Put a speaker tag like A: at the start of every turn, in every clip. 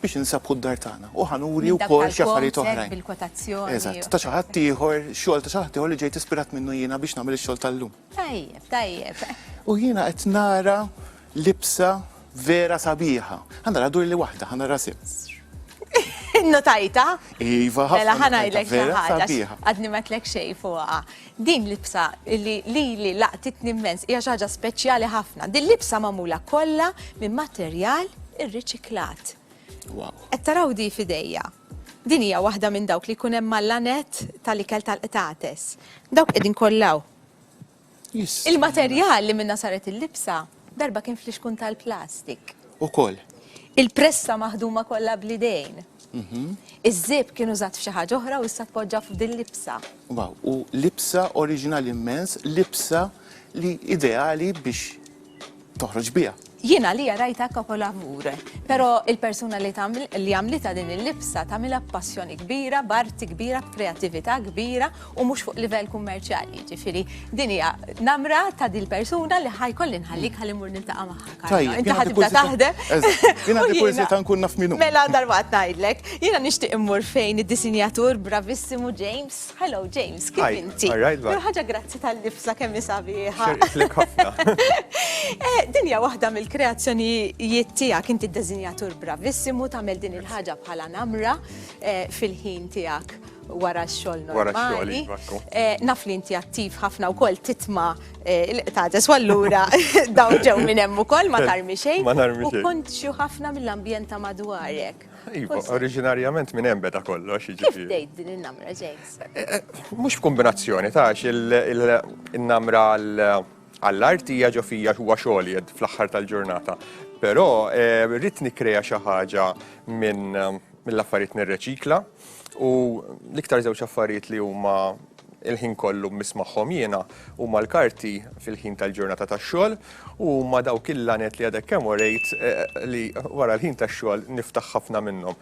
A: biex insabħu d-dar tagħna u ħa nuri wkoll xi affarijiet oħrajn. Eżatt, ta' xi ħadd ieħor, xogħol ta' xi ħadd ieħor li ġejt ispirat minnu jiena biex nagħmel ix-xogħol tal-lum. Tajjeb, tajjeb. U jiena qed nara libsa vera sabiħa. Ħa nara dur li waħda, ħa nara sitt. Innotajta? Iva, ħafna. Mela ħa ngħidlek xi ħaġa. Għadni ma tlek xejn fuqha. Din libsa li lili laqtitni immens hija xi ħaġa speċjali ħafna. Din libsa magħmula kollha minn materjal irriċiklat. Wow. Qed taraw di fidejja. Din hija waħda minn dawk li jkun hemm mal-lanet tal-ikel tal-qtates. Dawk qegħdin kollaw. Il-materjal li minna saret il-libsa Darba kien flixkun tal-plastik. Ukoll. Il-pressa maħduma kollha bl-idejn. Iż-żieb kien użat f'xi ħaġa oħra u issa tpoġġa f'din libsa. Wow, u libsa oriġinali immens, libsa li ideali biex toħroġ biha. Jien għalija rajtha kapolavur, però il-persuna li għamlitha din il-libsa tagħmilha b'passjoni kbira, b'arti kbira, b'kreattività kbira u mhux fuq livell kummerċjali, jiġifieri din hija namra ta' din persuna li ħajkoll inħallik ħalli mur niltaqa' magħha. Tajjeb, inti ħad tibda taħdem. Jiena għandi kurżi ta' nkun naf minnu. Mela darba ngħidlek, jiena nixtieq immur fejn id-disinjatur bravissimu James. Hello James, kif inti? Ħaġa grazzi tal-lifsa kemm isabiħa. Eh, din hija waħda mill-kreazzjonijiet tiegħek inti d-disinjatur bravissimu tagħmel din il-ħaġa bħala namra eh, fil-ħin tiegħek. wara x-xogħol normali. Eh, naf li inti attiv ħafna wkoll titma eh, il-qtates u allura dawn ġew minn hemm ukoll ma tarmi xejn. Ma tarmi xejn. U kont xi ħafna mill-ambjent ta' madwarek. Iva, oriġinarjament minn hemm beda kollox. Kif dejt din in-namra, James? Eh, mhux f'kombinazzjoni ta' il-namra għall-artija ġo fija huwa xogħol fl-aħħar tal-ġurnata. Però rrid nikkrea xi ħaġa minn mill-affarijiet nirreċikla, U l-iktar żewġ affarijiet li huma il-ħin kollu mmiss magħhom jiena huma l-karti fil-ħin tal-ġurnata tax-xogħol u huma dawk il-laned li għadek kemm urejt li wara l-ħin tax-xogħol niftaħ ħafna minnhom.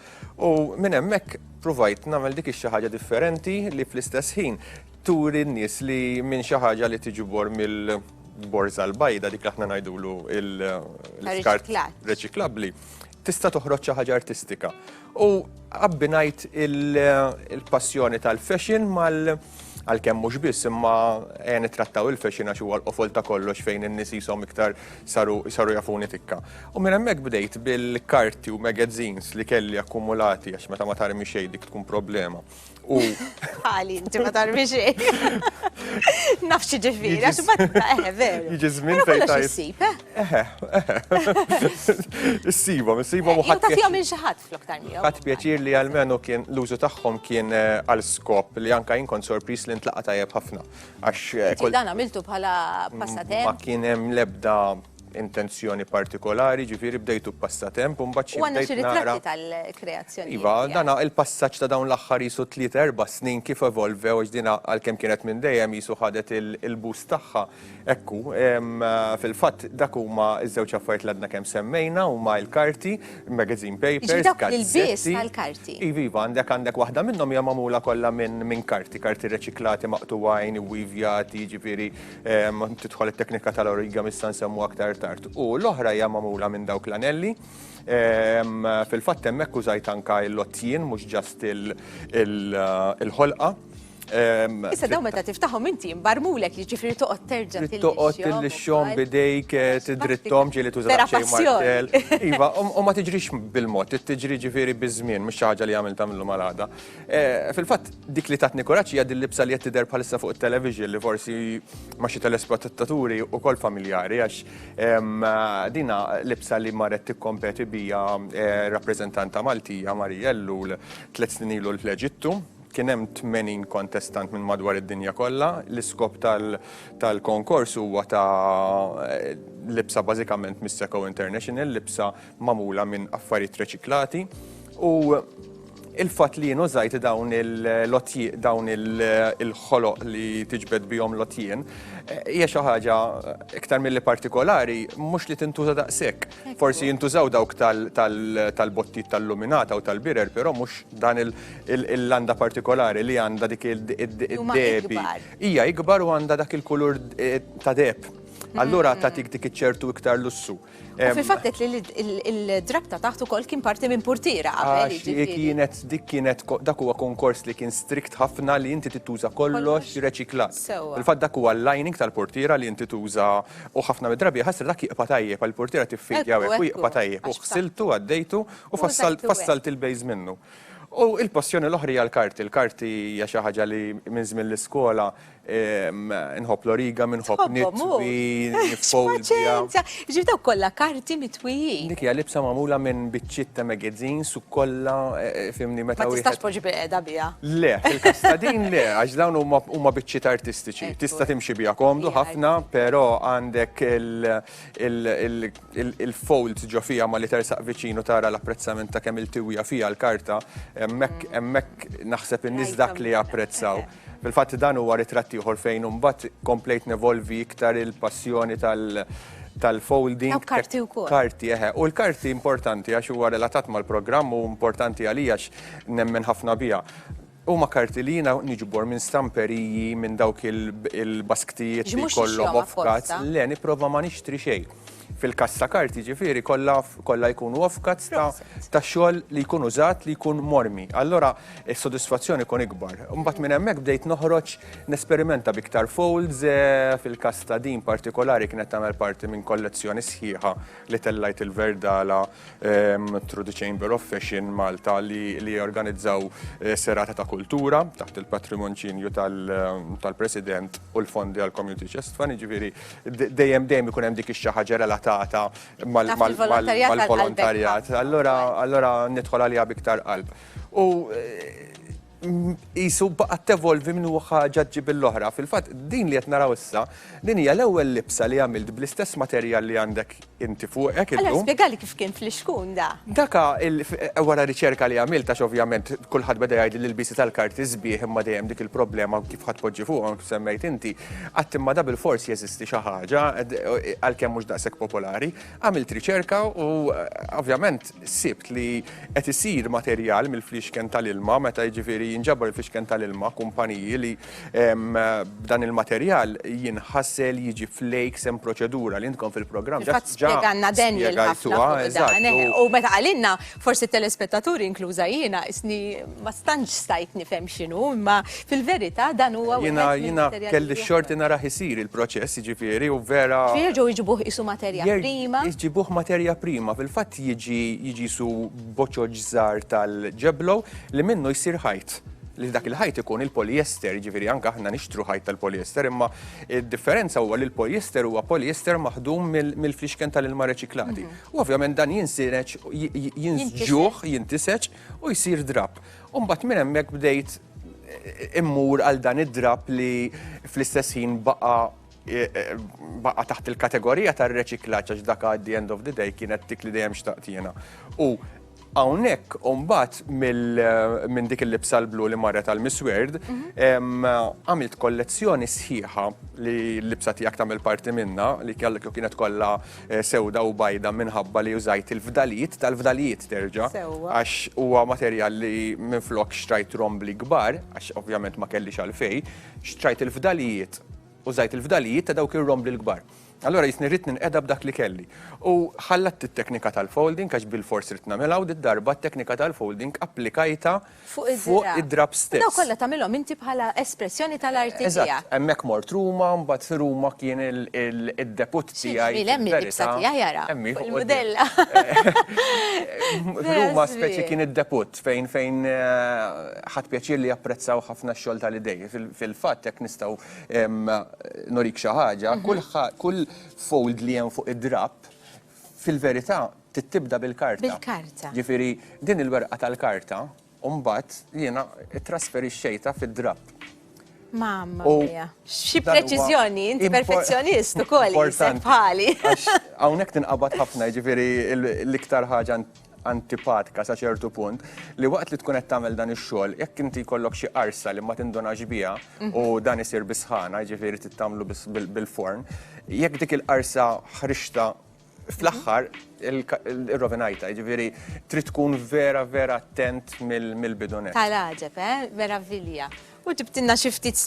A: U minn hemmhekk pruvajt nagħmel dik ix-xi ħaġa differenti li fl-istess ħin turi n-nies li minn xi ħaġa li tiġbor mill-borża l-bajda, dik li aħna ngħidulu l-iskart reċiklabbli, tista' toħroġ xi ħaġa artistika. U abbinajt il-passjoni tal-fashion mal għal kemm mhux biss imma eh, nittrattaw il-fashion għax huwa l-qofol ta' kollox fejn in-nies jisom iktar saru saru jafuni tikka. U minn hemmhekk bdejt bil-karti u magazines li kelli akkumulati għax meta ma tarmi xejn dik tkun problema. U. Għali, inti ma tarbi xej. Nafx ġifiri, għax ma eħe, veru. Iġi zmin fejn ta' jissib, eh? Eħe, eħe. Issiba, issiba u ħadd. Tafja minn xaħat flok tal miegħu. Ħadd pjaċir li għalmenu kien l-użu tagħhom kien eh, għal skop li anka jien kont sorpris li ntlaqa tajjeb ħafna. Għax. Eh, dan għamiltu bħala mm, passatem. Ma kien hemm lebda intenzjoni partikolari, ġifieri bdejtu b'passatemp u mbagħad xi ftit nara. U għandna xi ritratti tal-kreazzjonijiet. Iva, dan il-passaġġ ta' dawn l-aħħar qisu tliet erba' snin kif evolvew għax din għalkemm kienet minn dejjem qisu ħadet il-boost tagħha. Hekk hu. Fil-fatt dak huma ż-żewġ affarijiet li għadna kemm semmejna huma l-karti, magazine papers, gazzetti. Jiġifieri dawk l-ilbies tal-karti. Iva, iva, għandek għandek waħda minnhom hija magħmula kollha minn karti, karti reċiklati, maqtugħin, iwivjati, jiġifieri. Tidħol it-teknika tal-origami issa nsemmu aktar tard. U l-oħra hija magħmula minn dawk l-anelli. Fil-fatt hemmhekk użajt anke l-għotjien mhux ġast il-ħolqa. Issa dawn meta tiftaħhom inti mbarmulek jiġifieri toqgħod terġa' tillixxihom. Toqgħod tillixxihom b'idejk, tiddritthom ġieli tuża xi martell. Iva, u ma tiġrix bil-mod, tiġri ġifieri biż-żmien, mhux xi ħaġa li għamiltha mill-lum għal għada. Eh, fil-fatt, dik li tatni kuraċ hija dil-libsa li qed tidher bħalissa fuq it-television li forsi ma xi telespettaturi wkoll familjari għax ehm, dina libsa li marret tikkompeti bija eh, rappreżentanta Maltija Marija Ellul tliet snin ilu l-Eġittu kien hemm 80 kontestant minn madwar id-dinja kollha. L-iskop tal-konkors huwa ta' eh, libsa bażikament mis-Seco International, libsa magħmula minn affarijiet reċiklati u il-fatt li jien użajt dawn il-lotjiet, dawn il-ħoloq li tiġbed bihom lotjien, eh, hija xi ħaġa iktar milli partikolari, mhux li tintuża daqshekk. Forsi jintużaw dawk tal-bottit tal-luminata u tal-birer, però mhux dan il-landa partikolari li għandha dik id-debi. Hija ikbar u għandha dak il-kulur eh, ta' deb. Allura mm. ta' tik dik iċ-ċertu iktar lussu. U fil-fatt qed li il-drab ta' taħt ukoll kien parti minn portiera qabel. Jiġifieri. Kienet dik kienet dak huwa konkors li kien strikt ħafna li inti tittuża kollox reċiklat. Il-fatt dak huwa l-lining tal-portiera li inti tuża u ħafna mid-drabi ħasra dak jiqpa' tajjeb għal portiera tiffidja u hekk u jiqpa' tajjeb u ħsiltu għaddejtu u fassalt il-base minnu. U l-passjoni l-oħra hija l-karti. Il-karti hija xi ħaġa li minn żmien l-iskola Inħobb l-origami, nħobb nitwi, niffolja. Ġib daw kollha karti mitwijin. Dik hija libsa magħmula minn biċċiet ta' magazines u kollha eh, fimni meta wieħed. Ma tistax poġi biqeda biha. Le, fil-kastadin le, għax dawn huma biċċiet artistiċi. Tista' timxi biha komdu ħafna, però għandek il-folds ġo fija ma li tersaq viċinu tara l-apprezzament ta' kemm il-tiwija fija l-karta, hemmhekk naħseb in-nies dak li japprezzaw. Fil-fatt dan huwa ritratt ieħor fejn imbagħad komplejt nevolvi iktar il-passjoni tal tal-folding. Dawk karti wkoll. Karti, eħe. U l-karti importanti għax huwa relatat mal-programm u importanti għalija għax nemmen ħafna biha. Huma karti li jiena niġbor minn stamperiji, minn dawk il-basktijiet li jkollhom offcuts. Le, nipprova ma nixtri xejn. fil-każ ta' kart jiġifieri, kollha jkunu offcuts ta' xogħol li jkun użat li jkun mormi. Allura s-sodisfazzjon ikun ikbar. Imbagħad minn hemmhekk bdejt noħroġ nesperimenta b'iktar folds, fil-każ ta' din partikolari kienet tagħmel parti minn kollezzjoni sħiħa li tellajt il-Verdala. through the Chamber of Fashion Malta li jorganizzaw eh, serata ta' kultura taħt il-patrimonċinju tal-President u l-fondi għal Community Chest Fund, ġifiri dejjem dejjem ikun hemm dik ix ħaġa relatata mal-volontarjat. Allora nidħol għalija biktar qalb. U eh, qisu baqgħet tevolvi minn ħaġa ġġib l-oħra. Fil-fatt, din li qed naraw issa, din hija l-ewwel libsa li għamilt bl-istess materjal li għandek inti fuqek illum. Allura spjegali kif kien fl-ixkun da. Daka wara riċerka li għamilt għax ovvjament kulħadd beda jgħid li l-ilbiesi tal-karti sbieħ imma dejjem dik il-problema kif ħadd tpoġġi fuqhom kif semmejt inti. Qatt imma da bilfors jeżisti xi ħaġa għalkemm mhux daqshekk popolari. Għamilt riċerka u ovvjament sibt li qed isir materjal mill-flixken tal-ilma meta jiġifieri jinġabar il-flixken tal-ilma kumpaniji li dan il-materjal jinħassel jiġi flejk sem proċedura li intkom fil-programm. Ġa spjeganna Daniel ħafna. U meta qalinna Forsi telespettaturi inkluża jiena isni ma stantx stajt nifhem x'inhu, imma fil-verità dan huwa Jiena jiena kelli xorti nara ħisir il-proċess, jiġifieri u vera. Jerġgħu jġibuh qisu materja prima. Jġibuh materja prima, fil-fatt jiġi jiġi qisu boċoġ żgħar tal-ġeblow li minnu jsir ħajt. Li dak il-ħajt ikun il-polyester, jiġifieri anke aħna nixtru ħajt tal-polyester, imma d-differenza huwa li l-polyester huwa polyester maħdum mill-flixken tal-ilma reċiklati. U ovvjament dan jinsireġ, jinsġuħ, jintiseġ u jsir drapp. U mbagħad minn hemmhekk bdejt immur għal dan id-drapp li fl-istess ħin baqa' baqa' taħt il-kategorija tar-reċiklaġġ għax dak għaddi end of the day kienet dik li dejjem xtaqt jiena. U Hawnhekk u mbagħad minn dik il-libsa l-blu li marret għal Miss Weird, mhm. għamilt kollezzjoni sħiħa li l-libsa tiegħek tagħmel parti minna li kellek kienet kollha eh, sewda u bajda minħabba li użajt il-fdalijiet tal-fdalijiet terġa' għax huwa materjal li minflok xtrajt rombli kbar għax ovvjament ma kellix għalfej, xtrajt il-fdalijiet użajt il-fdalijiet ta' dawk ir-rombli l-kbar. Allura jisni rrid ninqeda b'dak li kelli. U ħallat it-teknika tal-folding għax bilfors ridt nagħmilha u did-darba t-teknika tal-folding applikajtha fuq id-drapp stess. U dawn kollha tagħmilhom inti bħala espressjoni tal-arti tiegħek. Eżatt, hemmhekk mort Ruma, mbagħad fi Ruma kien id-debut tiegħi. Xi ġmiel hemm il-libsa tiegħi ara fuq il-mudella. F'Ruma speċi kien id-debut fejn ħadt pjaċir li japprezzaw ħafna x-xogħol tal-idejja. Fil-fatt hekk nistgħu Norik xi ħaġa, kull fold li hemm fuq id-drapp fil-verità tittibda bil-karta. Bil-karta. Ġifieri din il-werqa tal-karta u mbagħad jiena ttrasferixxejtha fid-drapp. Mamma mia. Xi preċiżjoni, inti perfezzjonist ukoll bħali. Hawnhekk tinqabad ħafna, jiġifieri l-iktar ħaġa antipatika sa ċertu punt, li waqt li tkun qed tagħmel dan ix-xogħol, jekk inti jkollok xi qarsa li ma tindunax biha u dan isir bis-sħana, jiġifieri trid tagħmlu bil-forn, jekk dik il-qarsa ħriġtha fl-aħħar irrovinajtha, jiġifieri trid tkun vera vera attent mill-bidu nett. Tagħlagħġeb, eh? Meravilja. U ġibtilna xi ftit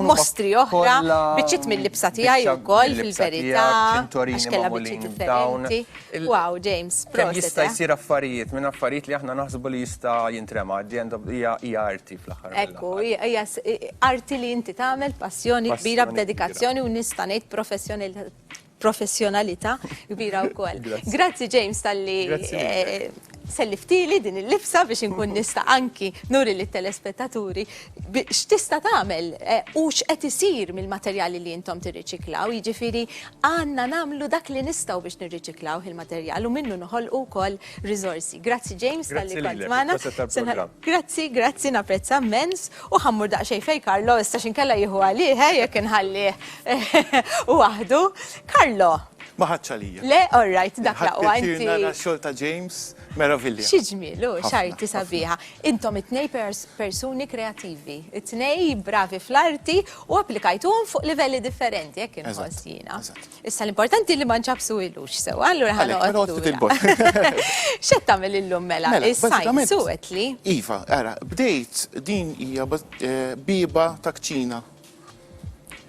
A: mostri oħra, biċċiet mill-libsa tiegħi wkoll fil-verità. Għax kellha biċċiet differenti. Wow, James, proset. Jista' eh? jsir affarijiet minn affarijiet li aħna naħsbu li jista' jintrema, hija arti fl-aħħar. Ekku, hija arti li inti tagħmel passjoni kbira b'dedikazzjoni u nista' ngħid professjoni professjonalità kbira wkoll. Grazzi James talli eh, selliftili din il-lifsa biex inkun nista' anki nuri lit telespettaturi x'tista' tagħmel eh, u x'qed isir mill-materjali li intom tirriċiklaw, jiġifieri għandna nagħmlu dak li nistgħu biex nirriċiklaw il-materjal u minnu noħolqu wkoll Riżorsi. Grazzi James tal-li Grazzi kont lilek, magħna. il-proset tal-programm. Grazzi, grazzi, napprezza mmens. U ħammur daqsxejn fejn Karlo, issa x'inkella jieħu għalih, eh, jekk inħallih waħdu. Karlo, Ma ħadx għalija. le, all right, dak Ħadd laqwa pjaċir nara inti. x-xogħol ta' James meravilja. Xi ġmiel, u Ħafna, x'arti ħafna. sabiħa. Intom it-tnej pers- persuni kreattivi, it-tnej bravi fl-arti u applikajtuhom fuq livelli differenti, hekk inħoss Eżatt, jiena. eżatt. Issa l-importanti li ma nċabsu ilux sewa, allura ħana għoddu. Xed tamil illum mela, mela il-sajn suwet li? Iva, għara, bdejt din hija eh, biba ta' kċina.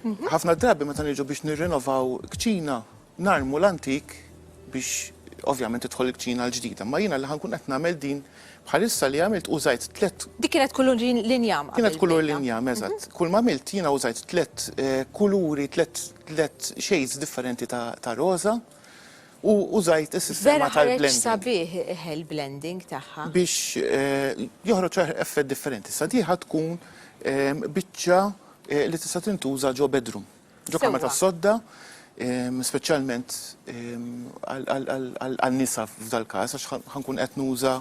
A: Mhm. ħafna drabi meta niġu biex nirrenovaw kċina, narmu l-antik biex ovvjament tidħol il-kċina l-ġdida. Ma jiena li ħankun qed nagħmel din Bħalissa li għamilt użajt tliet. Dik kienet kulur l-injam. Kienet kulur l-injam, eżatt. Kull ma għamilt jiena użajt tliet kuluri, tliet shades differenti ta' roża u użajt is-sistema tal-blending. Vera ħareġ sabiħ il-blending tagħha. Biex joħroġ effett differenti. Issa di ħatkun biċċa li tista' tintuża ġo bedroom. Ġokama tas-sodda, speċjalment għan-nisa f'dal-każ, għax ħa nkun qed nuża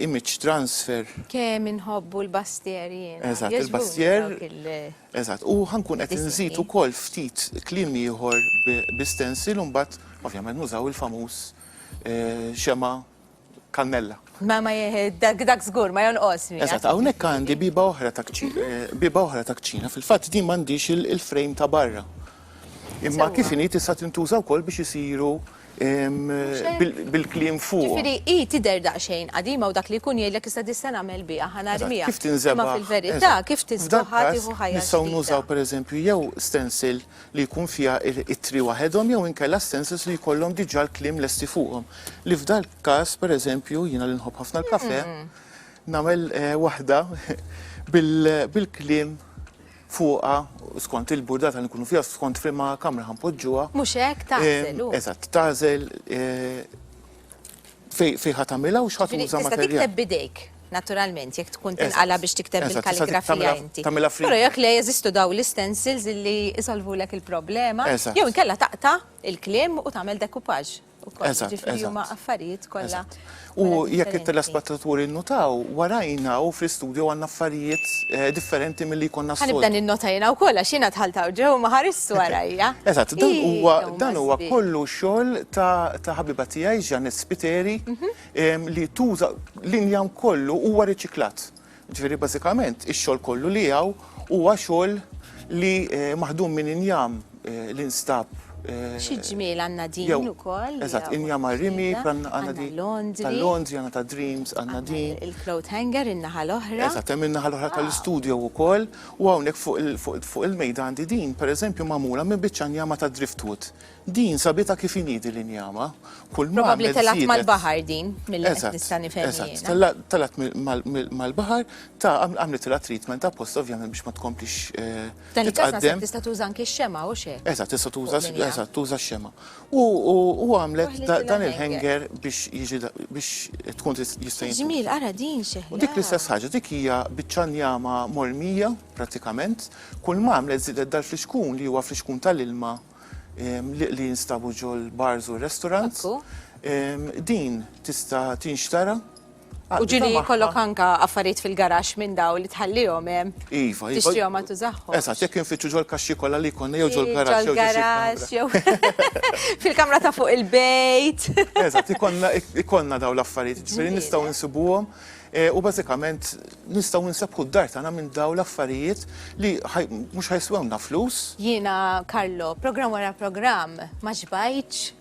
A: image transfer. Kemm inħobbu l-bastier jiena. Eżatt, il-bastier. Eżatt, u ħa nkun qed inżid ukoll ftit kliem ieħor bi stencil u mbagħad ovvjament nużaw il-famuż xema' kannella. Ma ma dak dak żgur ma jonqos. Eżatt, hawnhekk għandi biba oħra ta' biba oħra ta' kċina. Fil-fatt din m'għandix il-frame ta' barra. Imma kif inhi tista' tintuża wkoll biex isiru bil-kliem fuq. Ġifieri hi tidher daqsxejn qadima u dak li jkun jgħidlek issa dista' nagħmel biha ħanarmiha. Kif tinżebgħa? Imma fil-verità kif tiżbogħha tieħu ħajja. Nistgħu nużaw pereżempju jew stencil li jkun fiha ittri waħedhom jew inkella stances li jkollhom diġà l-kliem lesti fuqhom. Li f'dal każ, pereżempju, jiena li nħobb ħafna l-kafè, nagħmel waħda bil-kliem fuqha skont il-burdata li nkunu fiha, skont f'liema kamra ħa npoġġuha. Mhux hekk, tagħżel hu. Eżatt, tagħżel. Fej fej ħat tagħmilha u x'ħat uża materjal. Tista' tikteb bidejk, naturalment, jekk tkun tinqala biex tikteb bil-kalligrafija inti. Però jekk le jeżistu daw l-istensils li isolvulek il-problema, jew inkella taqta' il-kliem u tagħmel decoupage. Ġifieri huma affarijiet kollha. U jekk it-telespettaturi nnutaw, warajna u fl-istudju għandna affarijiet differenti milli jkollna s-soltu. Ħanibda ninnota jiena wkoll għax jiena dħalt hawn ġewwa ma ħaristx. Ħares warajja. Eżatt, dan huwa dan huwa kollu xogħol ta' ħabiba tiegħi Janet Spiteri mhm. li tuża l-injam kollu huwa riċiklat. Ġifieri bażikament ix-xogħol kollu li hawn huwa xogħol li eh, maħdum minn injam eh, li nstab Eh, Xi ġmiel għandna din ukoll. Eżatt, inja marrimi, għandna din. Londri. Tal-Londri, għandna ta' Dreams, għandna din. Il-cloth hanger, in-naħa l-oħra. Eżatt, hemm in-naħa l-oħra tal-istudio wkoll. U hawnhekk fuq il-mejda għandi din, pereżempju magħmula minn biċċa njama ta' driftwood. Din sabitha kif inhi din l-injama. Kull ma għamilt żiedet. Probabbli telgħet mal-baħar din, milli qed nista' nifhem jien. Eżatt, eżatt. Telgħet mal-baħar, ta' għamlitilha treatment apposta ovvjament biex ma tkomplix titqaddem. F'dan il-każ naħseb tista' tuża anki x-xemgħa, hux hekk? Eżatt, tista' tuża, eżatt, tuża x-xemgħa. U għamlet dan il-hanger biex jiġi biex tkun jista' jinti. Ġmiel, ara din xeħla. Dik l-istess ħaġa, dik hija biċċa njama mormija pratikament, kull ma għamlet żidet dal-flixkun li huwa flixkun tal-ilma li jinstabu ġol bars u restaurants. Din tista' tinxtara U ġili jkollok anka affarijiet fil-garax minn daw li tħallihom hemm. Iva, iva. Tixtrihom ma tużahom. Esa, jekk infittxu ġol kaxxi kollha li jkollna jew ġol garax jew garax jew fil-kamra ta' fuq il-bejt. Esa, ikollna daw l-affarijiet, ġifieri nistgħu nsibuhom eh, u bażikament nistgħu nsebħu d-dar tagħna minn daw l-affarijiet li mhux ħajswewna flus. Jiena Karlo, programm wara programm ma xbajtx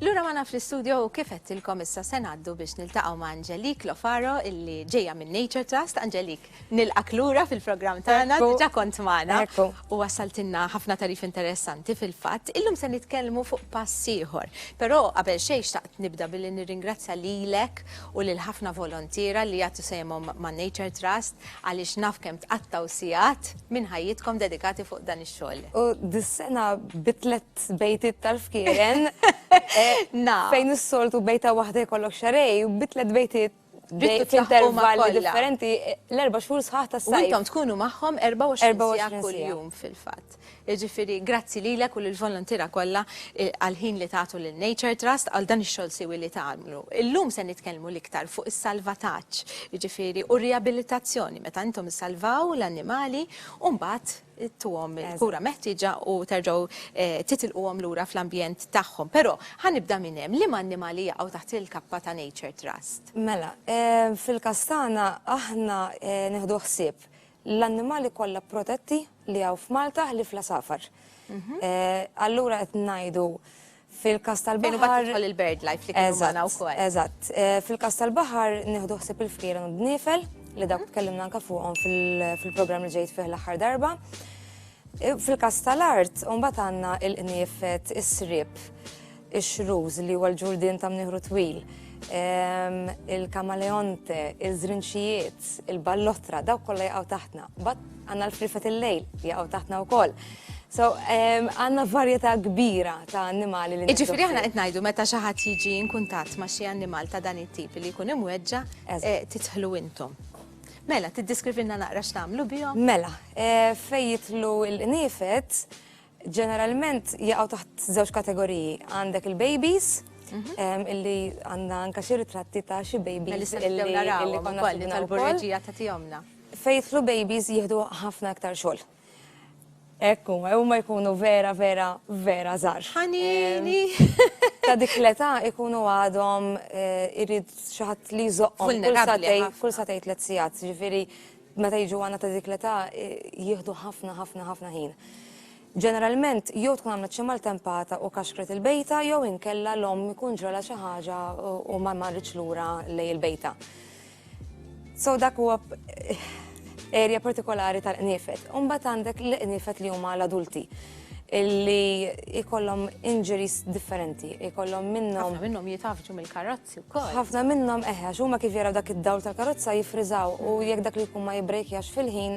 A: Lura ma naf l-istudio u kif għettilkom issa se ngħaddu biex niltaqgħu ma' Angelik Lofaro illi ġejja minn Nature Trust. Angelik, nilqak lura fil-programm tagħna diġà kont magħna. U wassaltilna ħafna tarif interessanti fil-fatt. Illum se nitkellmu fuq pass ieħor. Però qabel xejn xtaqt nibda billi nirringrazzja lilek u lil ħafna volontiera li jagħtu sehemhom ma' Nature Trust għaliex naf kemm tqattgħu sigħat minn ħajjitkom dedikati fuq dan ix-xogħol. U dis-sena bi tliet bejtiet tal-fkieren fejn is-soltu bejta waħda jkollok xarej, bi tliet bejtiet intervalli differenti l-erba' xhur sħaħ tas-sajf. Intom tkunu magħhom 24 sija kuljum fil-fatt. Jiġifieri grazzi lilek u lill-volontiera kollha għall-ħin li tagħtu lil Nature Trust għal dan ix-xogħol siwi li tagħmlu. Illum se nitkellmu l-iktar fuq is-salvataġġ. jiġifieri, u r-riabilitazzjoni meta intom issalvaw l-annimali u mbagħad tuhom il-kura meħtieġa u terġgħu titilquhom lura fl-ambjent tagħhom. Però ħa nibda minn hemm, liema annimali jaqgħu taħt il-kappa ta' Nature Trust? Mela, fil-każ tagħna aħna nieħdu ħsieb l-annimali kollha protetti li hawn f'Malta ħlief l-għasafar. Allura qed ngħidu Fil-każ tal-baħar. Fejn imbagħad tidħol il-BirdLife li kienu magħna wkoll. Eżatt. Fil-każ tal-baħar nieħdu ħsieb il-frieren u d-dniefel li dawk tkellimna anke fuqhom fil-programm li ġejt fih l-aħħar darba. Fil-każ tal-art, mbagħad għandna l-qniefet, is-sriep, ix-xruż li huwa l-ġurdien ta' mnieħru twil, il-kamaleonte, iż-żrinċijiet, il-ballotra, dawk kollha jaqgħu taħtna. Għandna l-frifet il-lejl li jaqgħu taħtna wkoll. So, għanna varjetà kbira ta' annimali li Iġifiri aħna qed ngħidu meta xi ħadd jiġi inkuntat ma' xi annimal ta' dan it-tip li jkun imweġġa' eh, titħlu intom. Mela, tiddeskrivilna naqra x'tagħmlu bihom? Mela, eh, fejn jitlu l-qniefet, Ġeneralment jaqgħu taħt żewġ kategoriji. Għandek il-babies, illi għandna anka xi ritratti ta' xi babies illi konna li tal-burreġija ta' tijomna. Fejtlu babies jihdu ħafna aktar xogħol. Ekku, huma jkunu vera, vera, vera żgħar. Ħanini! Ta' dik l-età ikunu għadhom irid xi ħadd li jżoqqhom kull satej tliet sigħat, ġifieri Meta jiġu għandna ta' dik l-età jieħdu ħafna ħafna ħafna ħin. Ġeneralment jew tkun għamlet xi maltempata u kaxkret il-bejta jew inkella l-omm ikun ġralha xi ħaġa u ma marritx lura lejn il-bejta. So dak huwa erja partikolari tal-qniefet. Umbagħad għandek l-qniefet li huma l-adulti illi ikollhom injuries differenti, ikollhom minnhom. Ħafna minnhom jitafġu mill-karozza. Ħafna minnhom eħe, għax huma kif jaraw dak id-dawl tal-karozza jiffriżaw u jekk dak li jkun ma jibbrejkjax fil-ħin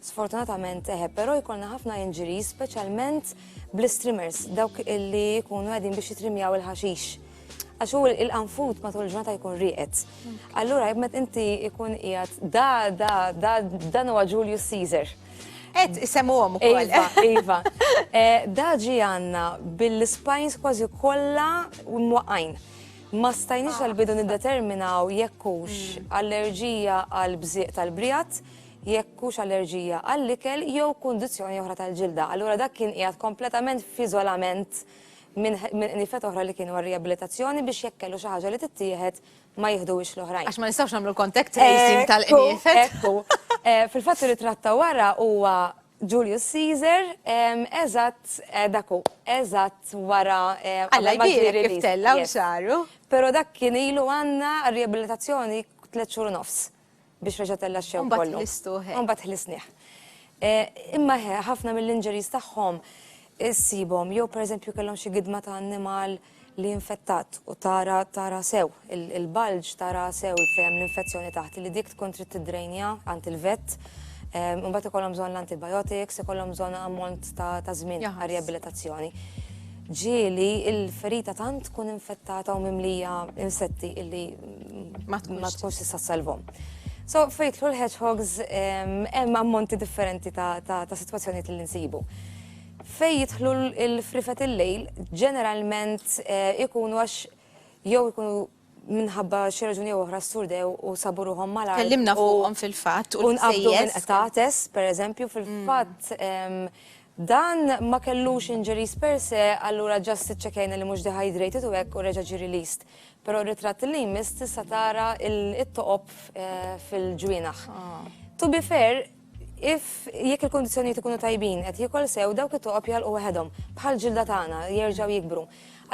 A: sfortunatament eħe, però jkollna ħafna injuries speċjalment bl-istrimers, dawk li jkunu qegħdin biex jitrimjaw il-ħaxix. Għax hu il-qanfut matul il-ġurnata jkun rieqed. Allura jemmet inti jkun qiegħed da da da dan huwa Julius Caesar. Et isemmu għom ukoll. Iva, iva. Eh, Daġi għanna bil-spines kważi kollha mwaqqajn. Ma stajniex għal-bidu niddeterminaw jekk hux mm. allerġija għal bżieq tal-brijat, jekk hux allerġija għall-ikel jew kundizzjoni oħra tal-ġilda. Allura dak kien qiegħed kompletament f'iżolament minn nifet oħra li kienu għal-riabilitazzjoni biex jekk kellu xi ħaġa li tittieħed ma jieħduwiex l-oħrajn. Għax ma nistgħux nagħmlu contact tracing tal-qnifet. Eh, fil-fatt li tratta wara huwa Julius Caesar, eżatt, eh, dak hu, eżatt wara. Eh, Alla jbierek kif tella u xaru. Pero dak kien ilu għanna riabilitazzjoni tliet xhur nofs biex reġa' tella xew kollu. Mbagħad ħlisnieh. Eh, imma ħafna mill-injuries tagħhom issibhom jew pereżempju kellhom xi gidma ta' annimal li infettat u tara tara sew il-bulge tara sew fejn l-infezzjoni taħt li dik tkun trid tiddrejnja għand il-vett. Ehm, imbagħad ikollhom bżonn l-antibiotics, ikollhom bżonn ammont ta' żmien ta' riabilitazzjoni. Ġieli il-ferita tant tkun infettata u mimlija insetti illi ma tkunx tista' salvom. So fejtlu l-hedgehogs ehm, hemm ammonti differenti ta' sitwazzjonijiet li nsibu. Fejn jidħlu l-frifet il-lejl, ġeneralment eh, ikunu għax jew ikunu minħabba xi raġuni jew oħra surdew u sabu ruħhom mal Kellimna fuqhom fil-fatt u nqabdu minn qtates, pereżempju, fil-fatt mm. dan ma kellux injuries per se, allura ġast iċċekajna li mhux dehydrated u hekk u reġa' ġi released. Però r-ritratt li jmiss tista' tara it-toqob eh, fil-ġwienaħ. Ah. To be fair, If, jekk il-kundizzjonijiet ikunu tajbin, qed jiekol sew, dawk it-toqob jagħlqu waħedhom, bħal ġilda tagħna, jerġgħu jikbru.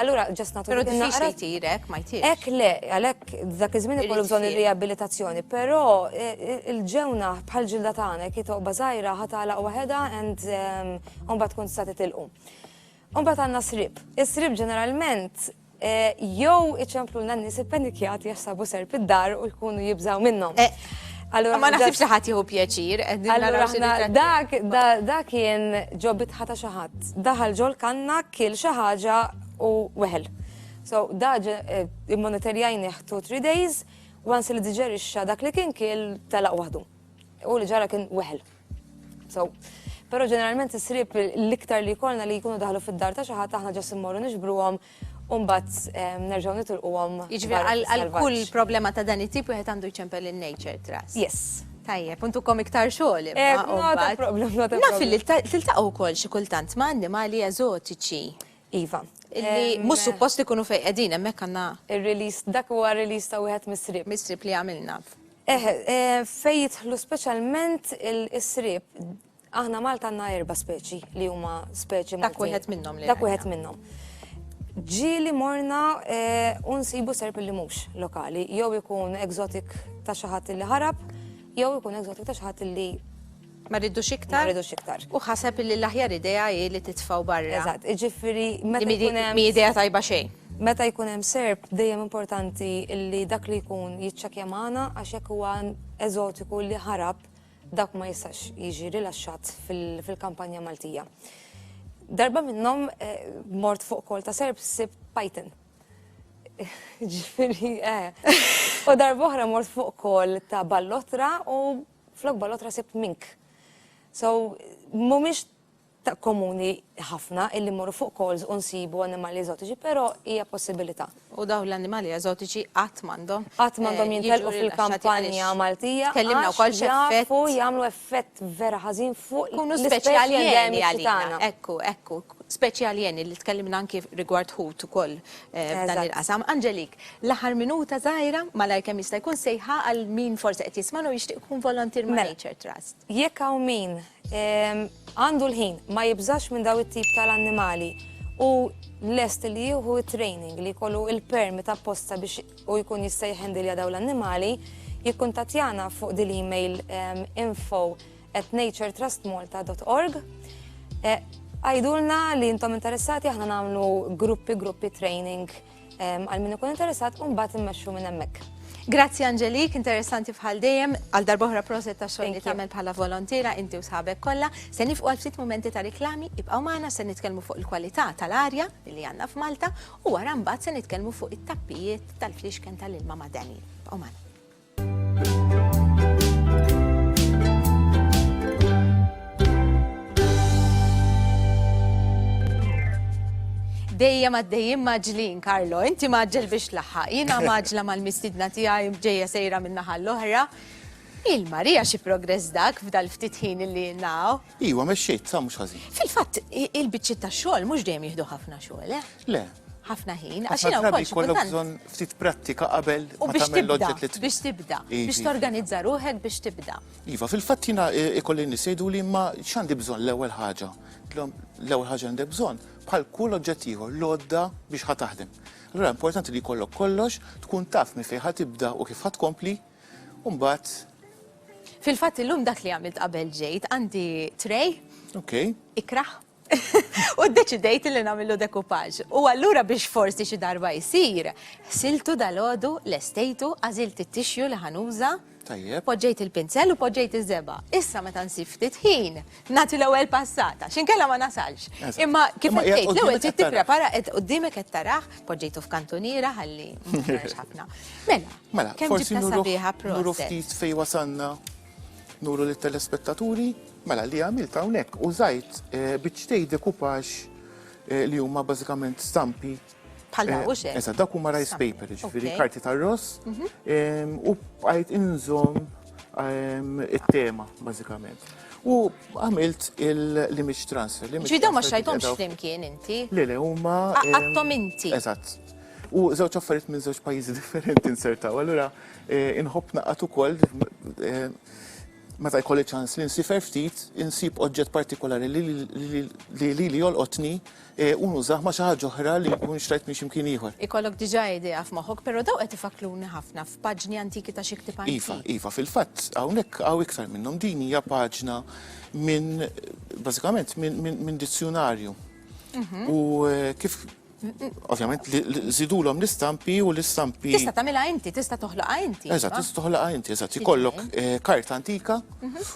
A: Allura, ġast nagħtu Però diffiċli naqra. jtir hekk, ma jtirx. Hekk le, għalhekk dak iż-żmien ikollu Irid bżonn fiq. ir-riabilitazzjoni, però eh, eh, il-ġewna bħal ġilda tagħna, jekk hi toqba żgħira, ħa tagħlaq waħedha and ehm, u mbagħad tkun tista' titilqu. U mbagħad għandna srib. Is-srib ġeneralment Jew iċemplulna n-nies ippanikjati għax sabu serp id-dar u jkunu jibżaw minnhom. Allura ma naħsibx li ħadd jieħu pjaċir. Allura aħna dak da kien ġo bitħa ta' xi ħadd. Daħal ġol kanna kiel xi ħaġa u weħel. So da eh, immonitorjajnih two three days, once li diġerixxa dak li kien kiel telaq waħdu. U li ġara kien weħel. So, pero ġeneralment is-sriep l-iktar li jkollna li jkunu daħlu fid-dar ta' xi ħadd aħna ġas immorru nixbruhom Umbat ehm, nerġaw nitulqu għom. Iġvi għal kull problema ta' dan it-tip wieħed għandu jċempel il-nature trust. Yes. Tajjeb, untu kom iktar xogħol. Eh, nota problem, nota problem. Naf li tiltaqgħu wkoll xi kultant ma' annimali eżotiċi. Iva. Mhux suppost ikunu fejn qegħdin hemmhekk għandna. Ir-release dak huwa release ta' wieħed mis-sriep. Mis-sriep li għamilna. Eh, eh, fejn jidħlu speċjalment is-sriep aħna Malta għandna erba' speċi li huma speċi Maltin. Dak wieħed minnhom li. Dak wieħed minnhom. Ġieli morna eh, u nsibu serp li mhux lokali, jew ikun egzotik ta' xi ħadd li ħarab, jew ikun egzotik ta' xi ħadd li Ma rridux iktar? Ma rridux iktar. U ħaseb illi l-aħjar idea hi li titfgħu barra. Eżatt, iġifieri meta jkun hemm. Mhi idea tajba xejn. Meta jkun hemm serp dejjem importanti illi dak li jkun jiċċekkja magħna għax jekk huwa eżotiku li ħarab dak ma jistax jiġi rilaxxat fil-kampanja Maltija. Darba minnhom mort fuq kol ta' serp sib pajten. Ġifieri, eh. U darba oħra mort fuq kol ta' ballotra u Flok balotra sibt mink. So, mhumiex ta' komuni ħafna illi mmorru fuq calls u nsibu annimali eżotiċi, però hija possibilità. U dawn l-annimali eżotiċi qatt m'għandhom. Qatt m'għandhom eh, jintelqu fil-kampanja Maltija. Tkellimna wkoll x'effett. jagħmlu effett vera ħażin fuq Kunu speċjali għalina. Ekku, ekku, speċjali li tkellimna anki rigward ħut ukoll eh, f'dan il-qasam. Anġelik, L-aħħar minuta żgħira, malajr kemm jista' jkun sejħa għal min forsi qed jismagħna u jixtieq ikun volunteer ma' Nature Trust. Mela, jekk hawn min għandu l-ħin, ma jibżax minn dawn it-tip tal-annimali u lest li jieħu t-training li jkollu l-permit apposta biex hu jkun jista' jħendilja dawn l-annimali, jikkuntattjana fuq din l-email info@naturetrustmalta.org. Għidulna li intom interessati aħna nagħmlu gruppi gruppi training. Għal min ikun interessat u mbagħad immexxu minn hemmhekk. Grazzi Angelik, interessanti bħal dejjem, għal darbohra proset ta' xogħol li tagħmel bħala volontira inti u sħabek kollha. Se nifqu għal ftit momenti ta' riklami, ibqgħu magħna se nitkellmu fuq il-kwalità tal-arja li għandna f'Malta u wara mbagħad se nitkellmu fuq it-tappijiet tal-flixken tal-ilma madani. Ibqgħu magħna. dejjem għaddejjem maġlin, Karlo. Inti maġġel biex laħħaq. Jina maġla mal-mistidna tiegħi ġejja sejra minna l-oħra. Il-Marija xi progress dak f'dal ftit ħin li naw. Iwa, mexxejt, sa mhux ħażin. Fil-fatt, il-biċċiet ta' xogħol mhux dejjem jieħdu ħafna xogħol, eh? Le. Ħafna ħin, għax jiena wkoll xi kultant. bżonn ftit prattika qabel u biex tibda, biex tibda, biex torganizza ruħek biex tibda. Iva, fil-fatt jiena eh, ikolli nisejdu li ma x'għandi bżonn l-ewwel ħaġa. L-ewwel ħaġa għandek bżonn bħal kull oġġett ieħor l-għodda biex ħataħdem. Allura importanti li jkollok kollox, tkun taf minn fejn ħatibda u kif ħatkompli U mbagħad Fil-fatt illum dak li għamilt qabel ġejt għandi tray. Ok. Ikraħ. U deċidejt li namillu dekupaġ. U allura biex forsi xi darba jsir, siltu dal-ħodu, l-estejtu, għazilt it-tixju li ħanuża. Tajjeb. Poġġejt il-pinzel u poġġejt iż-żeba. Issa meta nsib ftit ħin, nagħti l-ewwel passata, xinkella ma nasalx. Imma kif qed tgħid, l-ewwel trid tipprepara qed qudiemek qed taraħ, poġġejtu f'kantuniera ħalli ħafna. Mela, mela, kemm ġibta sabiħa proset. Nuru ftit fej wasanna, nuru lit telespettaturi mela li għamilt hawnhekk u żajt eh, biċċtej dekupax eh, li huma bażikament stampi Bħal daw, u xek. Eżatt, dawk huma rice paper, ġifieri Ok. karti tar-ross Mhm. em, u bqajt inżomm em, it-tema bażikament. U għamilt il- l-image transfer. l-image Ġifieri daw ma transfer xajtomx ġifieri daw- flimkien inti. Le, le, huma. Ah, em, għadtom inti. Eżatt. U żewġ affarijiet minn żewġ pajjiżi differenti nsertaw. Allura eh, inħobb naqgħad ukoll eh, meta jkolli ċans li nsifer ftit, insib oġġett partikolari li li- li li jolqotni u nużah ma' xi ħaġa oħra li nkun xtrajt minn xi mkien ieħor. Ikollok diġà idea f'moħħok, però dawn qed ifakkruni ħafna f'paġni antiki ta' xi ktieb antik. Iva, iva, fil-fatt hawnhekk hawn iktar minnhom. Din hija paġna minn bażikament minn dizzjunarju. U kif Ovvjament żidulhom l-istampi u l-istampi. Tista' tagħmilha inti, tista' toħloqha inti. Eżatt, tista' toħloqha inti, eżatt. Ikollok karta antika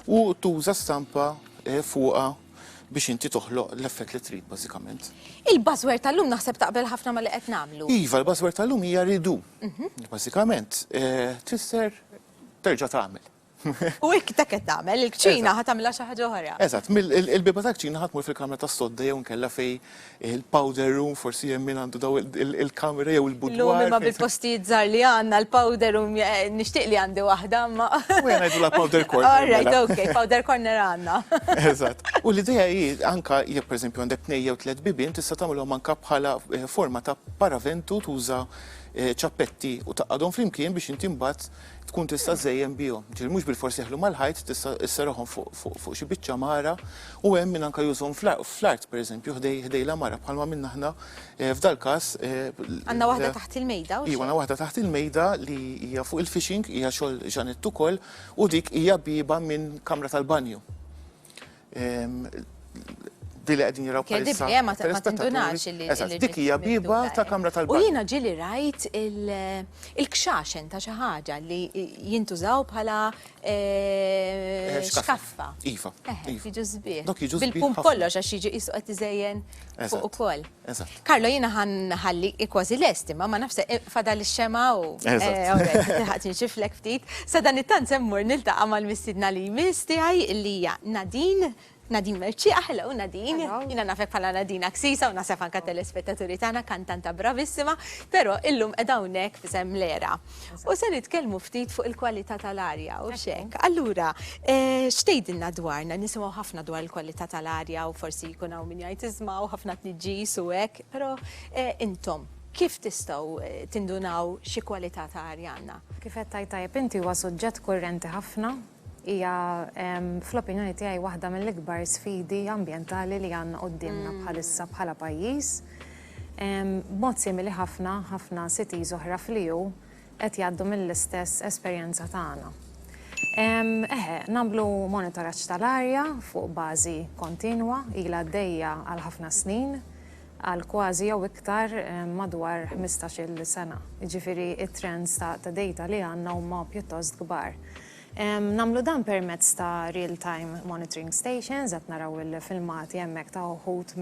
A: u tuża stampa fuqha biex inti toħloq l-effett li trid bażikament. Il-buzzword tal-lum naħseb taqbel ħafna ma li qed nagħmlu. Iva, l-buzzword tal-lum hija ridu. Mhm. Bażikament eh, tfisser terġa' tagħmel. U hekk dak qed tagħmel, il-kċina ħa tagħmilha xi ħaġa oħra. Eżatt, il-biba tal-kċina ħadd mur fil-kamra tas-sodda jew nkella fej il-powder room, forsi hemm min għandu daw il-kamra jew il-budwar. Illum imma bil-postijiet żgħar li għandna l-powder room eh, nixtieq li għandi waħda imma. U jien ngħidulha powder corner. All right, mela. okay, powder corner għandna. Eżatt. U l-idea hi anka jekk pereżempju għandek tnej jew tliet bibien tista' tagħmilhom anka bħala eh, forma ta' paraventu tuża eh, ċappetti u taqadhom flimkien biex inti mbagħad tkun tista' żżejjen bihom. Ġifieri mhux bilfors jeħlu mal-ħajt, tista' sserraħhom fuq xi biċċa mara u hemm min anke jużhom fl-art pereżempju ħdej l-għamara bħalma għamilna aħna eh, f'dal-każ. Eh, għandna waħda taħt il-mejda? Iva, għandna waħda taħt il-mejda li hija fuq il-fishing, hija xogħol Ġanett ukoll u dik hija biba minn kamra tal-banju. Di li qegħdin jiraw bħalissa. Kedib, ma tindunax li. Eżatt, dik hija biba ta' kamra tal U jiena ġili rajt il-kxaxen ta' xi ħaġa li jintużaw bħala eh, eh, xkaffa. Iva. Jiġu żbieħ. Dok jiġu żbieħ. Bil-pum kollox għax jiġu qisu qed iżejjen fuq ukoll. Eżatt. Carlo jiena ħa nħalli kważi lest imma ma nafx se fadal ix-xemgħa u tilħaqx inxiflek ftit. Sadanittant se mmur niltaqa' mal-mistiedna li jmiss tiegħi li hija Nadine Nadine Mercieqa, hello Nadine. Jiena nafek bħala Nadine Aksisa u naħseb anke telespettaturi tagħna kantanta bravissima, però illum qiegħda hawnhekk f'isem l-era. U se nitkellmu ftit fuq il-kwalità tal-arja u xek. Allura, eh, xtejdilna dwarna, nisimgħu ħafna dwar il-kwalità tal-arja u forsi jkun hawn min jgħid iżma' u ħafna tniġġis u hekk, però eh, intom kif tistgħu eh, tindunaw xi kwalità ta' arja għandna? Kif qed tajt tajjeb inti huwa suġġett kurrenti ħafna Hija, fl-opinjoni tiegħi, waħda mill-ikbar sfidi ambjentali li għandna quddiemna bħalissa bħala pajjiż. B'mod simili ħafna, ħafna cities oħra fl-EU qed jgħaddu mill-istess esperjenza tagħna. Eħe, nagħmlu monitoraġġ tal-arja fuq bażi kontinwa, ilha għaddejja għal ħafna snin, għal kważi jew iktar madwar ħmistax-il sena, jiġifieri t-trends ta' dejta li għandna huma pjuttost kbar. Nagħmlu dan permezz ta' real-time monitoring stations, qed naraw il-filmati hemmhekk ta' uħud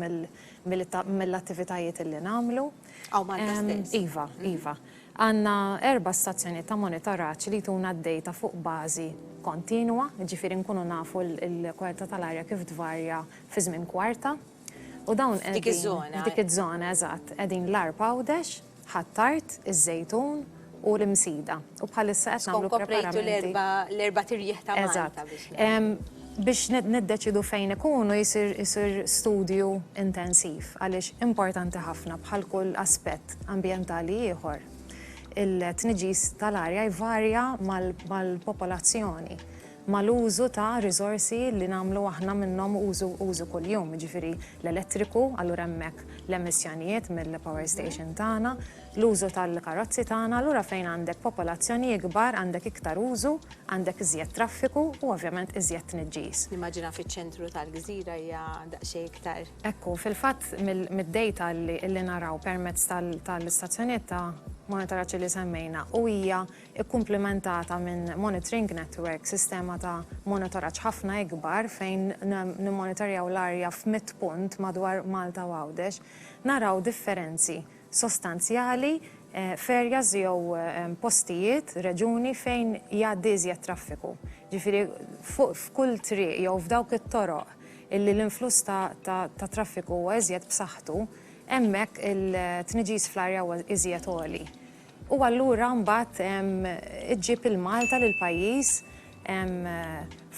A: mill-attivitajiet li nagħmlu. Hawn Malta stess? Iva, iva. Għandna erba' stazzjonijiet ta' monitoraġġ li jtuna d-dejta fuq bażi kontinwa, jiġifieri nkunu nafu l-kwalità tal-arja kif tvarja fi żmien kwarta. U dawn qegħdin. F'dik iż-żona. F'dik iż-żona, eżatt. Qegħdin l-Għarb Għawdex, Ħ'Attard, iż-Żejtun u l-Imsida. U bħalissa qed nagħmlu preparamenti. Tkun koprejtu l-erbat irjieħ ta' Malta biex. Eżatt. Biex niddeċiedu fejn ikunu jsir studju intensiv għaliex importanti ħafna bħal kull aspett ambjentali ieħor. Il-tniġġis tal-arja jvarja mal-popolazzjoni. mal-użu ta' riżorsi li nagħmlu aħna minnhom użu użu kuljum, jiġifieri l-elettriku, allura hemmhekk l-emissjonijiet mill-power station tagħna, l-użu tal-karozzi tagħna, allura fejn għandek popolazzjoni ikbar għandek iktar użu, għandek iżjed traffiku u ovvjament iżjed tniġġis. Nimmaġina fiċ-ċentru tal-gżira hija daqsxejn iktar. Hekk hu, fil-fatt mid-dejta li naraw permezz tal-istazzjonijiet ta' monitoraġġ li semmejna u hija ikkumplimentata minn monitoring network, sistema ta' monitoraġġ ħafna ikbar fejn nimmonitorjaw l-arja f'mitt punt madwar Malta u Għawdex, naraw differenzi sostanzjali f'areas jew postijiet, reġuni, fejn jgħaddi iżjed traffiku. Ġifieri f'kull triq jew f'dawk it-toroq illi l-influss ta' traffiku huwa iżjed b'saħħtu, hemmhekk it-tniġġis fl-arja huwa iżjed għoli. U allura mbagħad iġġib lil Malta, lill-pajjiż,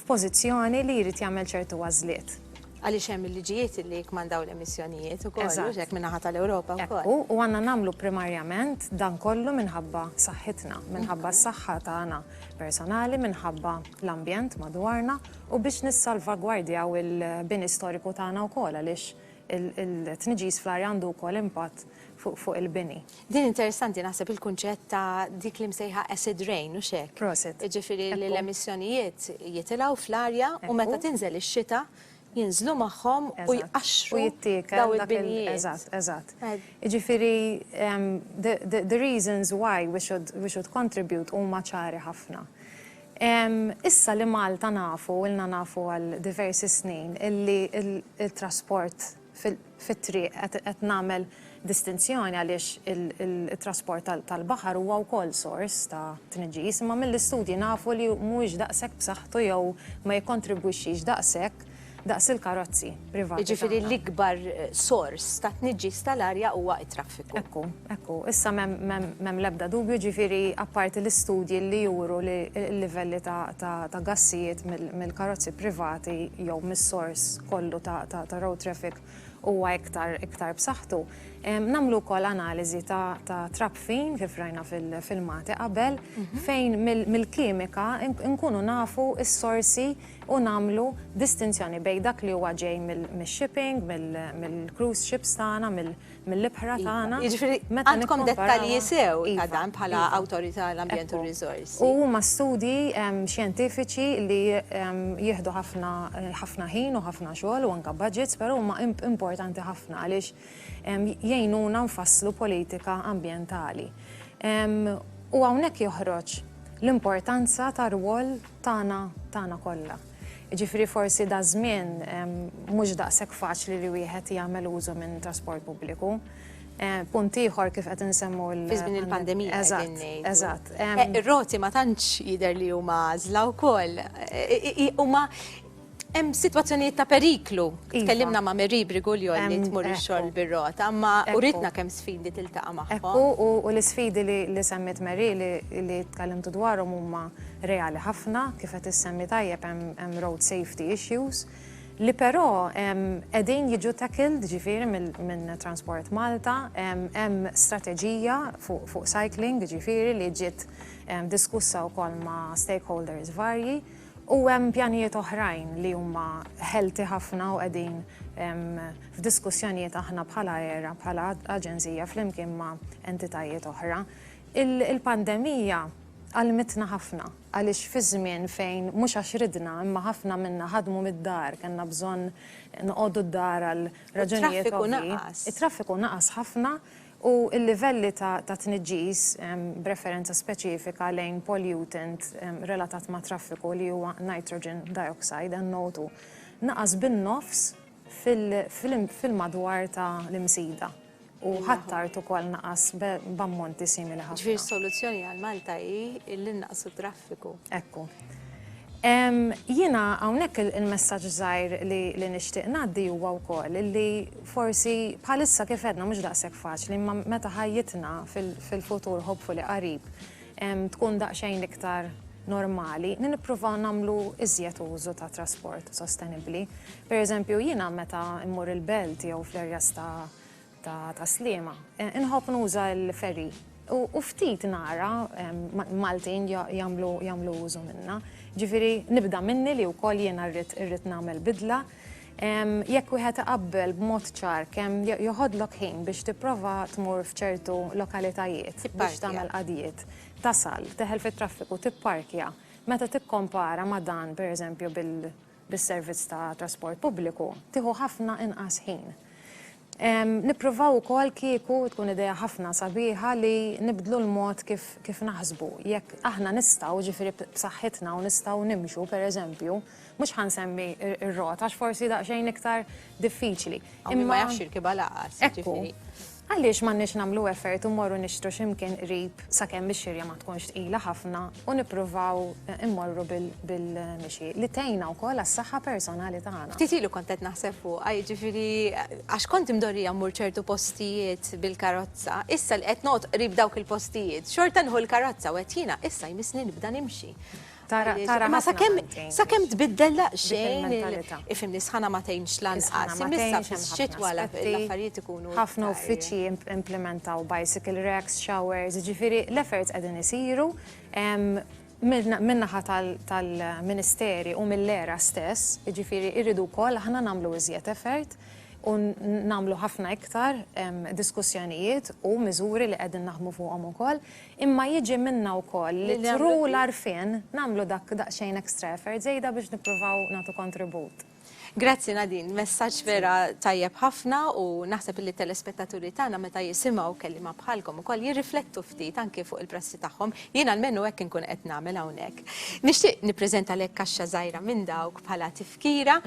A: f'pożizzjoni li jrid jagħmel ċertu għażliet. Għaliex hemm il-liġijiet li jikkmandaw l-emissjonijiet ukoll, mhux hekk, min-naħa tal-Ewropa wkoll. Hekk hu, u għandna nagħmlu primarjament dan kollu minħabba saħħitna, minħabba s-saħħa tagħna personali, minħabba l-ambjent madwarna u biex nissalvagwardjaw il-bini storiku tagħna wkoll għaliex il-tniġġis fl-arja għandu wkoll impatt fuq il-bini. Din interessanti naħseb il-kunċett ta' dik li msejħa acid rain, hux hekk? Proset. Jiġifieri li l-emissjonijiet jitilgħu fl-arja u meta tinżel ix-xita jinżlu magħhom u jqaxxru. U jittiekel dak il-binijiet. Eżatt, eżatt. Jiġifieri the reasons why we should we should contribute huma ċari ħafna. Issa li Malta nafu, ilna nafu għal diversi snin illi t-trasport, fit-triq qed nagħmel distinzjoni għaliex it-trasport tal-baħar huwa wkoll sors ta' tniġġis, imma mill-istudji nafu li mhuwiex daqshekk b'saħħtu jew ma jikkontribwixxix daqshekk daqs il-karozzi privati tagħna. Jiġifieri l-ikbar sors ta' tniġġis tal-arja huwa traffiku. Ekku, ekku. Issa m'hemm l-ebda dubju, ġifieri apparti l-istudji li juru li l-livelli ta' gassijiet mill-karozzi privati jew mis-sors kollu ta' road traffic huwa iktar iktar b'saħħtu, nagħmlu wkoll analiżi ta' trabfin kif rajna fil-filmati qabel fejn mill-kimika nkunu nafu s-sorsi u nagħmlu distinzjoni bejn dak li huwa ġej mix-shipping, mill-cruise ships tagħna, mill-ibħra tagħna. Jiġifieri għandkom dettalji sew ta' dan bħala Awtorità għall-Ambjent u r-Riżorsi. U huma studji xjentifiċi li jieħdu ħafna ħin u ħafna xogħol u anke budgets, però huma importanti ħafna għaliex, jgħinuna nfasslu politika ambjentali. U hawnhekk joħroġ l-importanza tar-rwol tagħna tagħna kollha. Jiġifieri forsi daż-żmien mhux daqshekk faċli li wieħed jagħmel użu minn trasport pubbliku. Punt ieħor kif qed insemmu l- Fi żmien il-pandemija qegħdin ngħidu. Eżatt, eżatt. Ir-roti ma tantx jidher li huma għażla wkoll. Huma Hemm sitwazzjonijiet ta' periklu. Iva. Tkellimna ma' Meri Briguljon li tmur ix-xogħol bir-rota, imma uritna kemm sfidi tiltaqa' magħhom. Ekku, u l-isfidi li semmiet Meri li tkellimtu dwarhom huma reali ħafna, kif qed issemmi tajjeb hemm road safety issues li però qegħdin jiġu tackled ġifieri minn Transport Malta, hemm strateġija fuq cycling ġifieri li ġiet diskussa wkoll ma' stakeholders varji. U hemm pjanijiet oħrajn li huma healthy ħafna u qegħdin f'diskussjonijiet aħna bħala era, bħala aġenzija flimkien ma' entitajiet oħra. Il-pandemija għallmitna ħafna għaliex fi żmien fejn mhux għax ridna imma ħafna minna ħadmu mid-dar, kellna bżonn noqogħdu d-dar għal raġunijiet ovvji. It-traffiku naqas. It-traffiku naqas ħafna u l-livelli ta' tniġġis, b'referenza speċifika lejn pollutant relatat mat-traffiku li huwa nitrogen dioxide annotu, naqas bin-nofs fil-madwar ta' l-Imsida u Ħ'Attard ukoll naqas b'ammonti simili ħafna. Jiġifieri s-soluzzjoni għal Malta hi li nnaqqsu t-traffiku. Ekku. Jiena hawnhekk il-messaġġ żgħir li nixtieq ngħaddi huwa wkoll illi forsi bħalissa kif għedna mhux daqshekk faċli imma meta ħajjitna fil-futur hopefully qarib tkun daqsxejn iktar normali li nippruvaw nagħmlu iżjed użu ta' trasport sostenibbli. Pereżempju jiena meta mmur il-belt jew fl-areas ta' ta' tas-Sliema. Inħobb nuża l-ferry u ftit nara Maltin jagħmlu użu minnha. Ġifieri nibda minni li wkoll jiena rrid nagħmel bidla. Jekk wieħed iqabbel b'mod ċar kemm joħodlok ħin biex tipprova tmur f'ċertu lokalitajiet biex tagħmel qadijiet, tasal, teħel fit-traffiku, tipparkja, meta tikkompara ma' dan, pereżempju, bil. bis-servizz ta' trasport pubbliku tieħu ħafna inqas ħin. Nippruvaw ukoll kieku tkun idea ħafna sabiħa li nibdlu l-mod kif kif naħsbu. Jekk aħna nistgħu, ġifieri b'saħħitna u nistgħu nimxu, per eżempju, mhux ħa nsemmi r-rota għax forsi daqsxejn iktar diffiċli. Imma. Min ma jafx jirkibha lanqas, jiġifieri. Ekku. Għaliex m'għandniex nagħmlu effort u mmorru nixtru xi mkien qrib sakemm ix-xirja ma tkunx tqila ħafna u nippruvaw immorru bil-mixi, li tgħinna wkoll għas-saħħa personali tagħna. Ftit ilu kont qed naħseb fuqha, jiġifieri għax kont imdorrija mmur ċertu postijiet bil-karozza, issa li qed noqgħod qrib dawk il-postijiet, xorta nieħu l-karozza u qed jiena issa jmissni nibda nimxi. Tara, tara. Ma sakemm sakemm tbiddel daqsxejn ifimni sħana ma tgħinx lanqas. Imissa fis-xit wara l-affarijiet ikunu. Ħafna uffiċċji implementaw bicycle racks, showers, ġifieri l-efforts qegħdin isiru min-naħa tal-Ministeri u mill-ERA stess, jiġifieri rridu wkoll aħna nagħmlu iżjed effort u nagħmlu ħafna iktar diskussjonijiet u miżuri li qegħdin naħdmu fuqhom ukoll. Imma jiġi minna wkoll li through l-għarfien nagħmlu dak daqsxejn extra effort żejda biex nippruvaw nagħtu kontribut. Grazzi Nadine, messaġġ vera tajjeb ħafna u naħseb illi t-telespettaturi tagħna meta jisimgħu kelliema bħalkom ukoll jirriflettu ftit anke fuq il-prassi tagħhom. Jien almenu hekk inkun qed nagħmel hawnhekk. Nixtieq nippreżentalek kaxxa żgħira minn dawk bħala Kira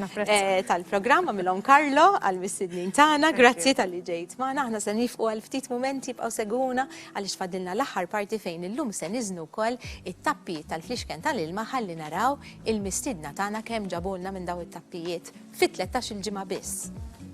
A: tal-programm għamilhom Karlo għal mistednin tagħna, grazzi tal-li ġejt magħna, aħna se nifqu għal ftit mumenti bqgħu segwuna għaliex fadilna l-aħħar parti fejn illum se niżnu wkoll it-tappijiet tal-flixken tal-ilma ħalli naraw il-mistiedna tagħna kemm ġabulna minn dawn it-tappijiet fi tlettax-il ġimgħa biss.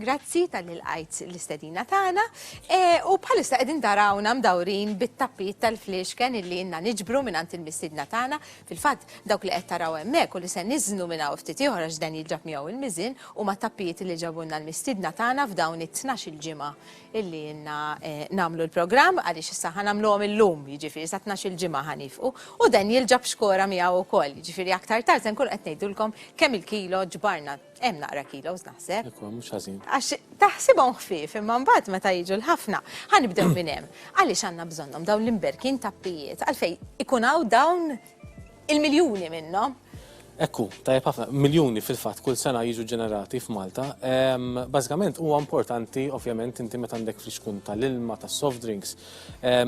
A: Grazzi tal-li lqajt l-istedina tagħna u bħalissa qegħdin tarawna mdawrin bit-tapit tal-fliexken illi inna niġbru mingħand il-mistiedna tagħna. Fil-fatt dawk li qed taraw hemmhekk u li se niżnu minn hawn ftit ieħor għax dan jiġab miegħu il-miżien huma tappijiet li ġabulna l-mistiedna tagħna f'dawn it-tnax-il ġimgħa illi ilna nagħmlu l-programm għaliex issa ħa nagħmluhom illum jiġifieri sa tnax-il ġimgħa ħa niefqu u dan jilġab xkora miegħu wkoll jiġifieri aktar tard se nkunu qed ngħidulkom kemm il-kilo ġbarna Hemm naqra kilos naħseb. Ekku, mhux ħażin. Għax taħsibhom ħfief imma mbagħad meta jiġu l-ħafna. Ħanibdew minn hemm. Għaliex għandna bżonnhom dawn l-imberkin tappijiet għalfej ikun hawn dawn il-miljuni minnhom. Ekku, tajjeb ħafna, miljuni fil-fatt kull sena jiġu ġenerati f'Malta. Bażikament huwa importanti ovvjament inti meta għandek friskun tal-ilma, tas-soft drinks,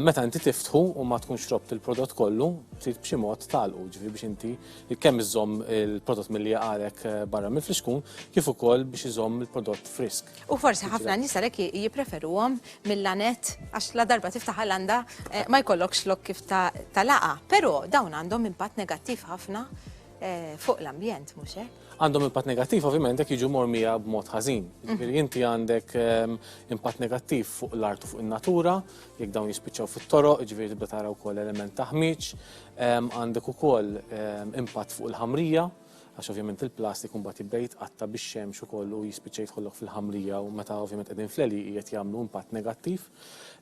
A: meta inti tiftħu u ma tkunx robt il-prodott kollu, trid b'xi mod talqu ġifi biex inti kemm iżomm il-prodott milli jaqalek eh, barra mill-friskun, kif ukoll biex iżomm il-prodott frisk. U forsi ħafna nies għalhekk jippreferuhom mill-lanet għax la darba tiftaħ l-għanda eh, ma jkollokx lok kif ta' laqa. Però dawn għandhom impatt negattiv ħafna eh, fuq l-ambjent, mhux hekk? Għandhom impatt negattiv ovvjament jekk jiġu mormija b'mod ħażin. Jiġifieri inti għandek ehm, impatt negattiv fuq l-art u fuq in-natura, jekk dawn jispiċċaw fit-toroq, ġifieri tibda tara wkoll element ta' ħmieġ, għandek ukoll impatt fuq il-ħamrija, għax ovvjament il-plastik mbagħad jibda jitqatta bix-xemx ukoll u jispiċċa jidħollok fil-ħamrija u meta ovvjament qegħdin fleli qiegħed jagħmlu impatt negattiv.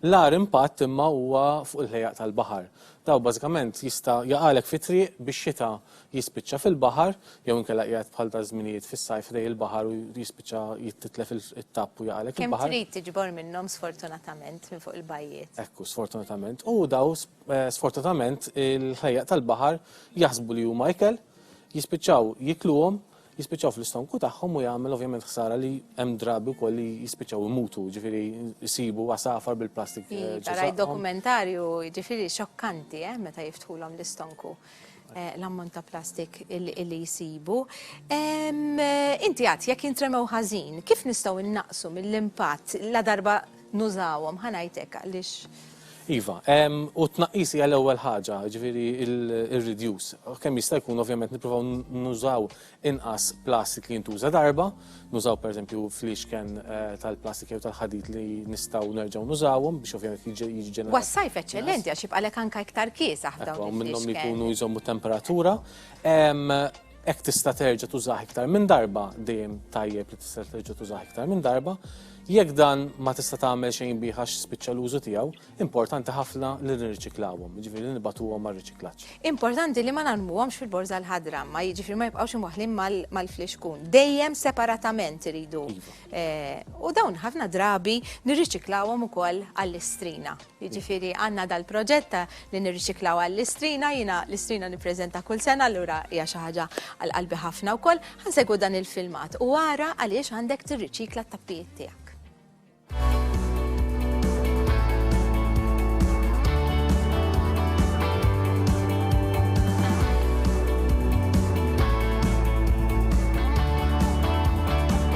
A: L-ar impatt imma huwa fuq il-ħejjaq tal-baħar. Daw bażikament jista' jaqalek fit-triq bix-xita jispiċċa fil-baħar, jew inkella qiegħed bħal daż-żminijiet fis-sajf ħdejn il-baħar u jispiċċa jittitlef it-tapp u jaqalek il-baħar. Kemm trid tiġbor minnhom sfortunatament minn fuq il-bajjiet. Ekku, sfortunatament. U daw sfortunatament il-ħlejjaq tal-baħar jaħsbu li huma ikel, jispiċċaw jikluhom, jispiċċaw fl-istonku tagħhom u jagħmel ovvjament ħsara li hemm drabi wkoll li jispiċċaw imutu, ġifieri jsibu għasafar bil-plastik. Rajt dokumentarju ġifieri xokkanti eh, meta jiftħulhom l-istonku eh, l-ammont ta' plastik li jsibu. Inti għad jekk jintremew ħażin, kif nistgħu innaqsu mill-impatt la darba nużawhom, ħa ngħid hekk għaliex. Iva, u t-tnaqqis hija l-ewwel ħaġa, jiġifieri ir-reduce. Kemm jista' jkun ovvjament nippruvaw nużaw inqas plastik li jintuża darba, nużaw pereżempju fliexken eh, tal-plastik jew tal-ħadid li nistgħu nerġgħu nużawhom biex ovvjament jiġi ġenerat. Was-sajf eċċellenti għax jibqalek anke iktar kiesaħ dawn. Minnhom li jkunu jżommu temperatura. Hekk tista' terġa' tużah iktar minn darba, dejjem tajjeb li tista' terġa' tużah iktar minn darba. Jekk dan ma tista' tagħmel xejn bih għax spiċċa l-użu tiegħu, importanti ħafna li nirriċiklawhom, jiġifieri li nibagħtuhom għar-riċiklaġġ. Importanti li ma narmuhomx fil-borża l-ħadra, ma jiġifieri ma jibqgħux imwaħħlin mal-flixkun. Dejjem separatament iridu. U dawn ħafna drabi nirriċiklawhom ukoll għall-istrina. Jiġifieri għandna dal-proġett ta' li nirriċiklaw għall-istrina, jiena l-istrina nippreżenta kull sena allura hija xi ħaġa għal qalbi ħafna wkoll. Ħa nsegwu dan il-filmat u ara għaliex għandek tirriċikla t-tappijiet tiegħek.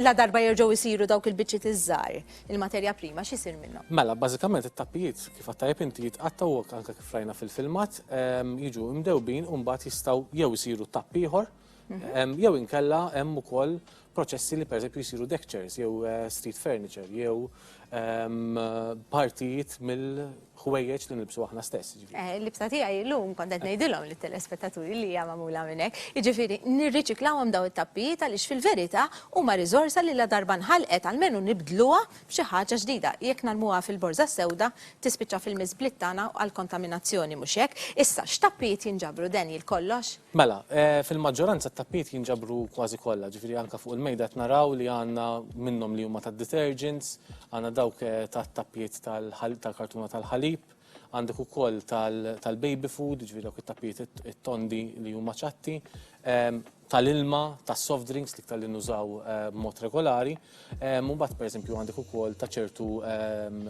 A: Ladarba jerġgħu jsiru dawk il-biċċiet iż-żgħar, il-materja prima x'isir minnhom? Mela, bażikament it-tappijiet kif għattajjeb inti jitqattgħu hekk anke kif rajna fil-filmat, ehm, jiġu mdewbin u mbagħad jistgħu jew isiru tapp ieħor, mhm. ehm, jew inkella hemm ukoll proċessi li pereżempju jsiru deck chairs jew eh, street furniture jew partijiet mill-ħwejjeġ li nilbsu aħna stess. Jiġifieri. Eh, l-libsa tiegħi llum kont qed ngħidilhom lit-telespettaturi li hija magħmula minn hekk. Jiġifieri nirriċiklawhom daw it-tappijiet għaliex fil-verità huma riżorsa li la darba nħalqet almenu nibdluha b'xi ħaġa ġdida. Jekk narmuha fil-borża sewda tispiċċa fil-miżbliet tagħna u għall-kontaminazzjoni, mhux hekk? Issa, x'tappijiet jinġabru, Daniel, kollox? Mela, fil-maġġoranza t-tappijiet jinġabru kważi kollha, ġifieri anke fuq il-mejda qed naraw li għandna minnhom li huma tad-detergents, għandna dawk tat-tappijiet tal-kartuna tal-ħalib, għandek ukoll tal-baby food, ġifieri dawk it-tappijiet it-tondi li huma ċatti. tal-ilma, tas-soft drinks, l-iktar li nużaw b'mod regolari. U mbagħad pereżempju għandek ukoll ta' ċertu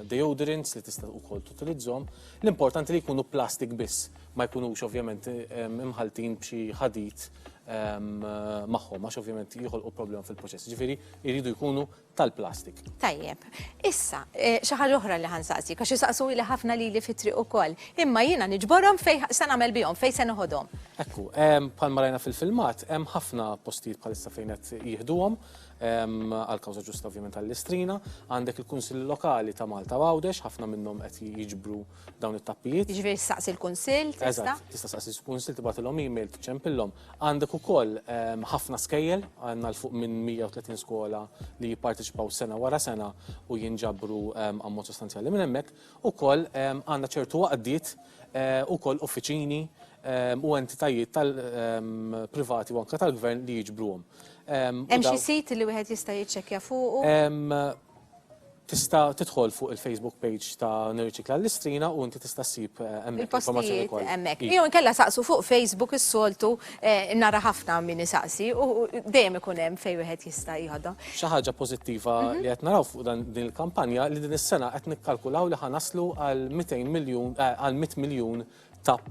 A: deodorants li tista' ukoll tutilizzhom. L-importanti li jkunu plastik biss, ma jkunux ovvjament imħalltin b'xi ħadid magħhom għax ovvjament joħolqu problema fil-proċess. Ġifieri jridu jkunu tal-plastik. Tajjeb. Issa, eh, xi ħaġa oħra li ħansaqsi, għax isaqsu li ħafna lili fit-triq ukoll. Imma jiena niġborhom fejn se nagħmel bihom, fejn se noħodhom. Ekku, bħal marajna fil-filmat, hemm ħafna postijiet bħalissa fejn qed jieħduhom għal kawża ġusta ovvjament għall-istrina, għandek il-Kunsill Lokali ta' Malta Għawdex, ħafna minnhom qed jiġbru dawn it-tappijiet. Jiġifieri staqsi l-Kunsill tista'? Eżatt, tista' staqsi l-Kunsill tibgħatilhom email tiċċempillhom. Għandek ukoll ehm, ħafna skejjel, għandna l fuq minn 130 skola li jipparteċipaw sena wara sena u jinġabru ehm, ammont sostanzjali minn hemmhekk. Ukoll ehm, għandna ċertu għaqdiet eh, ukoll uffiċini u entitajiet tal-privati u anke tal-gvern li jiġbruhom. Hemm xi sit li wieħed jista' jiċċekkja fuqu? tista' tidħol fuq il-Facebook page ta' Nirriċikla l-Istrina u inti tista' ssib eh, hemmhekk informazzjoni Il-postijiet kollha. hemmhekk. Iva. Jew inkella saqsu fuq Facebook is-soltu eh, nara ħafna min isaqsi u u dejjem ikun hemm fejn wieħed jista' jieħodhom. Xi ħaġa pożittiva Mhm. li qed naraw fuq dan din il-kampanja li din is-sena qed nikkalkulaw li ħa naslu għal 200 miljun eh, għal 100 miljun tap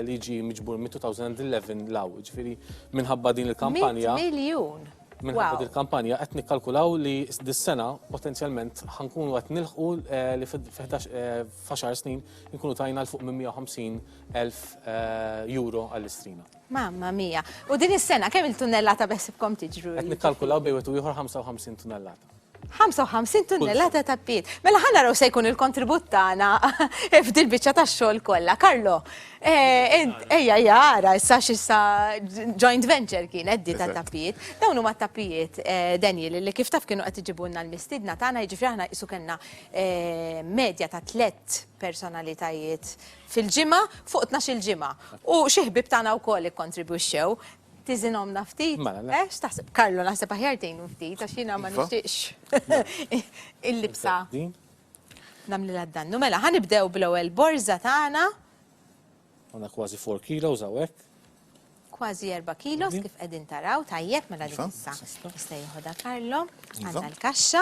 A: li jiġi miġbur minn 2011 law. Ġifieri minħabba din il-kampanja. Miljun! Minħabba din il-kampanja qed nikkalkulaw li dis-sena potenzjalment ħankunu qed nilħqu eh, li f'għaxar eh, snin nkunu tajna l fuq minn 150 elf eh, euro għall-istrina. Mamma mia. U din is-sena kemm il-tunnellata beħsibkom tiġru? Qed nikkalkulaw bejn u ieħor 55 tunnellata. 55 tunnellata ta' piet. Mela ħana raw se jkun il-kontribut tagħna f'dil biċċa tax-xogħol kollha. Karlo, eh, ejja jara issa x'issa joint venture kien di ta' tappijiet. Dawn huma tappijiet eh, Daniel li kif taf kienu qed iġibulna l-mistidna tagħna jiġifieri aħna qisu kellna eh, medja ta' tlet personalitajiet fil-ġimgħa fuq 12 il-ġimgħa. U xi ħbib tagħna wkoll ikkontribwixxew Tiżinhomna ftit? Mela, le. Eh, x'taħseb? Karlo, naħseb aħjar tgħinu ftit għax jiena ma Iva. nixtieqx il-libsa Din. nagħmlilha d-dannu. Mela, ħa nibdew bl-ewwel borża tagħna, Għandna kważi 4 kilos hawnhekk. kważi 4 kilos Iva. kif qegħdin taraw, tajjeb mela dik Iva, issa. sista. Jista' jieħodha Karlo, Iva. għandna l-kaxxa.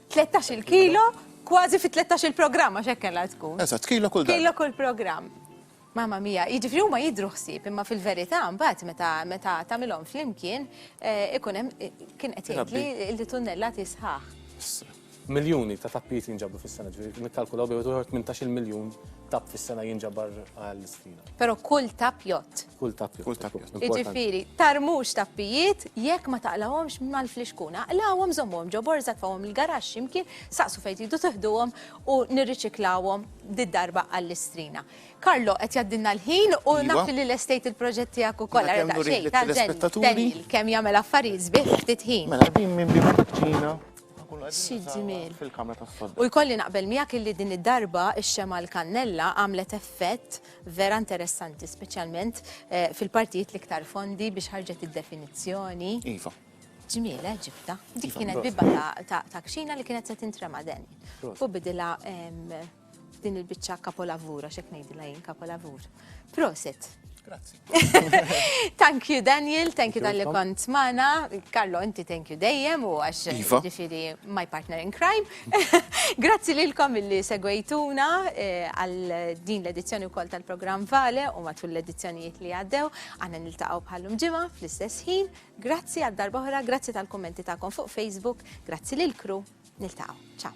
A: 13-il kilo, kważi fi 13-il programm għax hekk kellha tkun. Eżatt, kilo kull darba. Kilo kull programm. Mamma mia, jiġifieri huma jidru ħsieb, imma fil-verità mbagħad meta meta tagħmilhom flimkien eh, ikun hemm eh, kien qed jgħid li li tunnellati sħaħ. Miljuni ta' tappijiet jinġabru fis-sena, ġifieri nikkalkulaw bejn uħor 18 miljun tapp fis-sena jinġabar għall-istrina. Però kull tap jott. Kull tappju. Kull tappju. Iġifiri, tarmux tappijiet jekk ma taqlawhomx mal-flixkuna. Aqlawhom żommhom ġo borża tfawhom il-garax ximkien, saqsu fejn tridu tiħduhom u nirriċiklawhom did-darba għall-istrina. Karlo qed jaddinna l-ħin u iva. naf li l-estate il-proġett tiegħek ukoll ara daqsxejn tal-ġenni. Kemm jagħmel affarijiet sbieħ ftit ħin. Mela din minn bima taċċina fil-kamra tas-sodda. U jkolli naqbel miegħek illi din id-darba ix-xema l-kannella għamlet effett vera interessanti, speċjalment eh, fil-partijiet li ktar fondi biex ħarġet id-definizzjoni. Iva. Ġmiele eh, ġibta. Dik iva, kienet bibba ta' kxina li kienet se tintrema den. U bidila din il-bicċa kapolavura, xek nejdila jien kapolavur. Prosit. Grazie. thank you Daniel, thank you dan li kont mana. Carlo, inti thank you dejjem u għax iva. ġifiri my partner in crime. Grazzi lilkom illi segwejtuna eh, għal din l-edizzjoni wkoll tal-programm Vale u matul l-edizzjonijiet li għaddew. Għanna niltaqgħu bħallum ġimgħa fl-istess ħin. Grazzi għal darba oħra, grazzi tal-kummenti tagħkom fuq Facebook, grazzi lil kru. Niltaqgħu. Ciao.